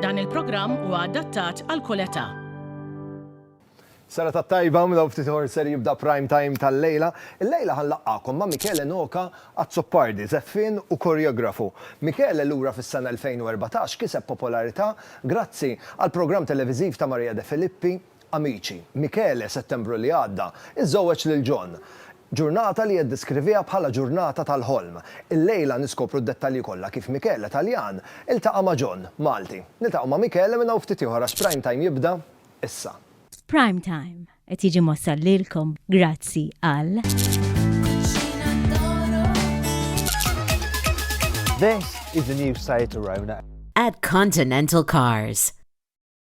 Dan il-programm huwa adattat għal kull età. Sena tat-tajba, minn hawn ftit ieħor ser jibda prime time tal-lejla. Illejla ħa nlaqqagħkom ma' Michele Noka, azzopardi, żeffien u koreografu. Michele, lura fis-sena 2014, kiseb popolarità grazzi għall-programm televiżiv ta' Maria De Filippi, Amici. Michele, Settembru li għadda, iżżewweġ lil John. Ġurnata li jiddeskriviha bħala ġurnata tal-ħolm. Illejla niskopru d-dettalji kollha kif Michele, Taljan, iltaqa' ma' John, Malti. Niltaqgħu ma' Michele minn hawn ftit ieħor għax Prime Time jibda issa. Prime Time qed jiġi mwassal lilkom grazzi għal. This is the new site to Rona. At Continental Cars.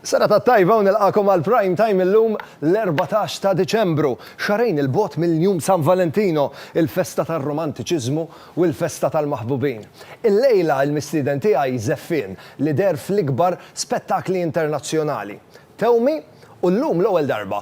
Serata tajba u nilqagħkom għal Prime Time illum l-erbatax ta' Diċembru, xahrejn 'il bogħod minn Jum San Valentino, il-festa tar-romantiċiżmu u l-festa tal-maħbubin. Illejla l-mistieden tiegħi żeffien li deher fl-ikbar spettakli internazzjonali. Tewmi u llum l-ewwel darba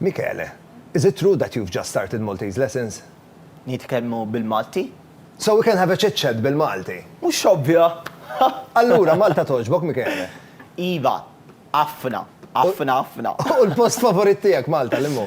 Michele, Is it true that you've just started Maltese lessons? Nitkellmu bil-Malti? So we can have a chit chat bil-Malti? Mhux ovvja! Allura Malta togħġbok, Michele? Iva, ħafna, ħafna, ħafna. U l-post favorit tiegħek Malta liemhu?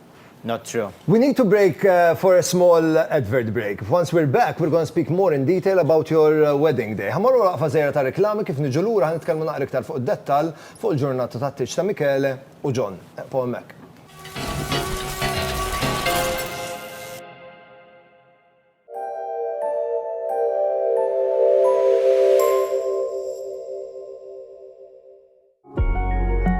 Not true. We need to break for a small advert break. Once we're back, we're gonna speak more in detail about your wedding day. Ħa morru waqfa żgħira ta' reklami kif niġu lura ħa nitkellmu naqra iktar fuq id-dettall fuq il-ġurnata tat-tieġ ta' Michele u John. Eqfu hemmhekk.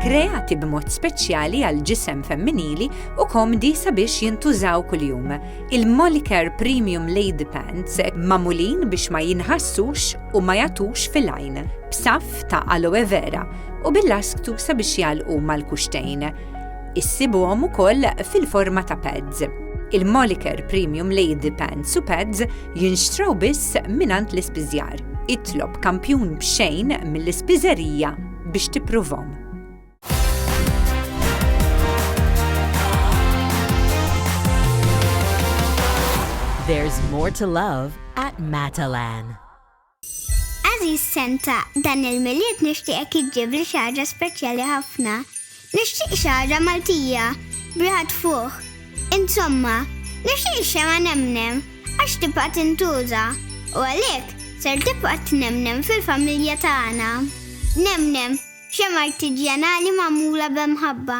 kreati b'mod speċjali għal ġisem femminili u komdi sabiex jintużaw kuljum. Il-Molicare Premium Lady Pants mamulin biex ma jinħassux u ma jatux fil-għajn, b'saf ta' aloe vera u bil-lasktu sabiex jalqu mal-kuxtejn. Issibuhom ukoll fil-forma ta' pads. Il-Moliker Premium Lady Pants u Pads jinxtraw biss mingħand l-ispiżjar. Itlob kampjun b'xejn mill-ispiżerija biex tippruvhom. There's more to love at Matalan. Għażiż Santa, dan il-Milied nixtieqek iġġibli xi ħaġa speċjali ħafna. Nixtieq xi ħaġa Maltija, b'riħa tfuħ. Insomma, nixtieq ix-xemgħa Nemnem għax tibqa' tintuża u għalhekk ser tibqa' tnemnem fil-familja tagħna. Nemnem, xemgħa artiġjanali magħmula b'mħabba.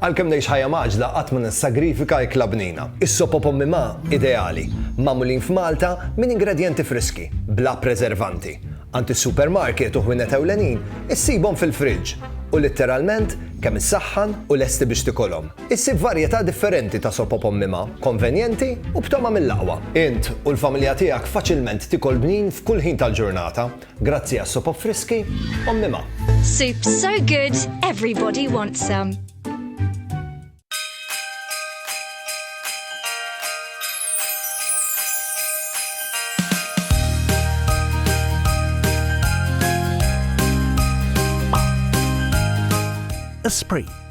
Għalkemm ngħix ħajja maġla qatt ma nissagrifika ikla bnina. Is-sopo pommi ma ideali, magħmulin f'Malta minn ingredjenti friski, bla preservanti. Għand is-supermarket u ħwienet ewlenin issibhom fil-friġġ u litteralment kemm issaħħan u lesti biex tikolhom. Issib varjetà differenti ta' sopop ommima, konvenjenti u b'tama mill-aqwa. Int u l-familja tiegħek faċilment tikol bnin f'kull ħin tal-ġurnata grazzi għas-sopop friski ommima. Soup so good, everybody wants some. Esprit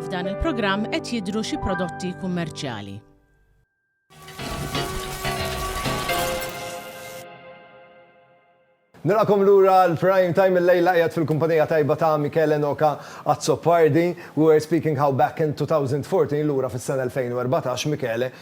F'dan il-programm qed jidhru xi prodotti kummerċjali. Nilqakom lura l-prime time il-lejla qiegħed fil-kumpanija tajba ta' Michele Noka Azzopardi. We were speaking how back in 2014 lura fis-sena 2014 Michele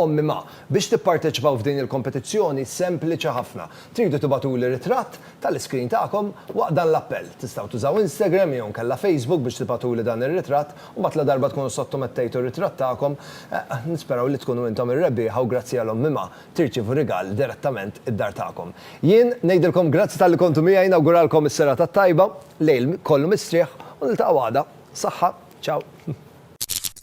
Ommi, Ma, biex tipparteċipaw f'din il-kompetizzjoni sempliċi ħafna. Tridu tibagħtuli ritratt tal-iskrin tagħkom waqt dan l-appell. Tistgħu tużaw Instagram jew inkella Facebook biex tibagħtuli dan ir-ritratt u mbagħad ladarba tkunu ssottomettejtu r-ritratt tagħkom, nisperaw li tkunu intom ir-rebbieħa u grazzi għal Ommi, Ma, tirċievu rigal direttament id-dar tagħkom. Jien ngħidilkom grazzi talli kontu miegħi, nawguralkom is-serata t-tajba, lejl kollu mistrieħ u niltaqgħu għada. Saħħa. Ciao.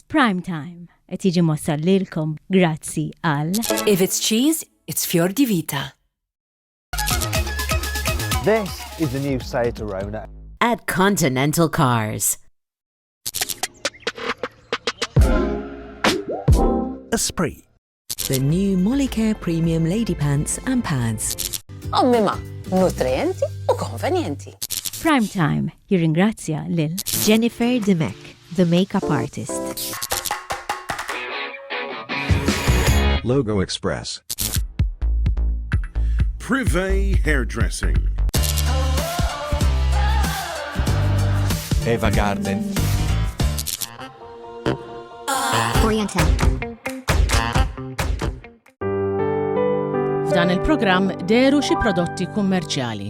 Prime Time. Qed jiġi mwassal lilkom grazzi għal. If it's cheese, it's Fior di Vita. This is the new Seat Arona. At Continental Cars. Esprit. The new Molicare Premium Lady Pants and Pads. Ommima, nutrienti u konvenjenti. Prime Time Jirringrazzja lil Jennifer Dimech, the makeup artist. Logo Express. Privé Hairdressing. Eva Garden. Oriental. F'dan il-programm deru xi prodotti kummerċjali.